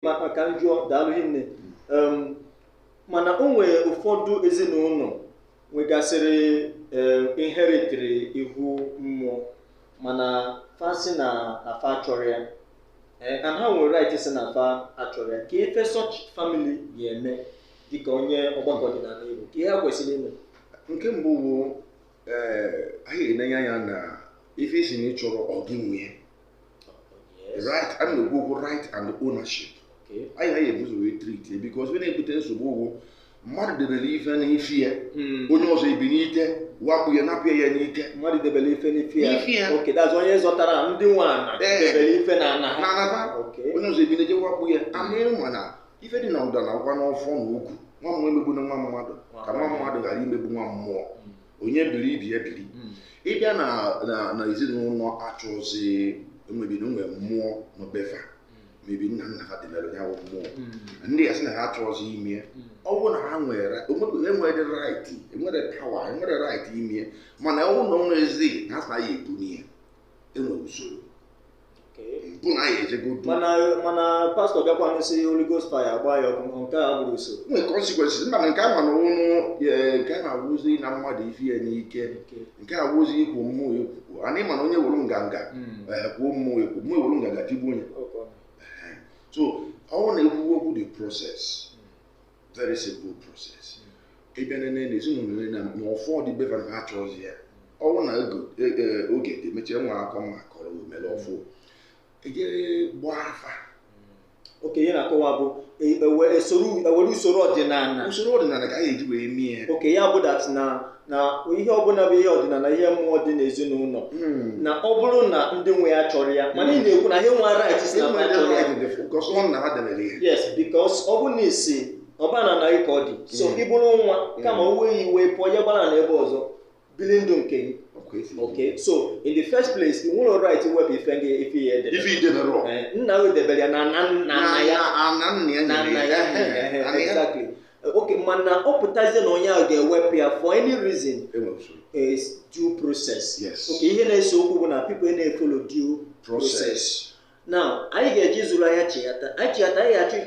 ma ka m jụọ daalụ hinne Em, mana o nwere ụfọdụ ezinụlọ nwegasịrị em, inheritiri ihu mmụọ mana fa si na na fa achọrọ ya Eh, and ha nwere right si na fa achọrọ ya kee ife such family ga-eme dịka onye ọgbakọ ọdịnala Igbo kee ihe ha kwesịrị ime nke mbụ bụ ee anyị ga-enenye anya na ife ị sị na ị chọrọ ọ gị nwe ya right a na-ekwu okwu right and ownership anyị anyị ebu ụzọ wee treat because ọ ya na-ebute nsogbu ọgụ mmadụ debere ife n'ife ya hmm. onye ọzọ ebinite wakpo ya napụ ya n'ike mmadụ debere ife n'ife ya okay that is onye zọtara ndị nwe ana eh. debere ife na ana ha onye ọzọ ebinite wakpo ya hmm. and ị ma na ife dị na ụda na agwa n'ọfọ na ogu nwa mmụọ emegbuna nwa mmadụ ka nwa mmadụ ghara imegbu nwa mmụọ hmm. onye biri ibe ya biri hmm. ị bịa na na ezinụlọ achọzi maybe e nwere mmụọ na be fa hmm. maybe nna nna ha debere ya bụ mmụọ hmm. ndị a sị na ha achọzi ime ya ọ bụrụ na ha nwere enwere right enwere power enwere right ime ya mana ọ bụrụ na o nwezi ha sị na ya ebuni ya enwere usoro bụ na anyị ejego du mana mana pastọ bịakwanụ sị Holy Ghost fire gbaa ya ọkụ nke a abụrọ usoro nwee consequences mana nke ama na ụnụ nke a na-awụzi ịna mmadụ ife ya n'ike nke a wụzi ikwu mmụọ ekwukwu and ị ma na onye were nganga kwuo mmụọ ekwu mmụọ ewere nganga tigbu onye so ọ wụ na-ekwu okwu the process very simple process ị bịa nene na ezinụlọ onye na ma ọfọ dị be va na ha achọzi ya ọ wụ na oge- e- e- oge dị mechie nwa akọ mma kọrọ omere ọfụ e jee gbaa afa okay ihe ị na-akọwa bụ e- ewe- esoro- ewere usoro ọdịnala usoro ọdịnala ka a ga-eji wee mee ya okay ya bụ that na na ihe ọbụla bụ ihe ọdịnala ihe mmụọ dị n'ezinụlọ hmm. na ọ bụrụ na ndị nwe ya achọrọ ya mana ị na-ekwu na ha enwerọ right si na ha achọrọ ya yes because ọ bụ na isi ọba nna gị ka ọ dị so hmm. ị bụrụ nwa hmm. kama o wee gị iwe pụọ ya gbara naa ebe ọzọ bili ndụ nke gị okay so in the first place ị nwerọ right iwepụ ife gị ife ya edebe eh, nna gị debere ya na nna ya na nna ya eh, eh, exactly okay mana ọ pụtazie na onye ahụ ga-ewepụ ya for any reason enwere usoro is due process Yes. okay ihe na-ese okwu bụ na people ana-efolo due process process now anyị ga-eje zụrụ ahịa chighata anyị chighata anyị ga-achọ ike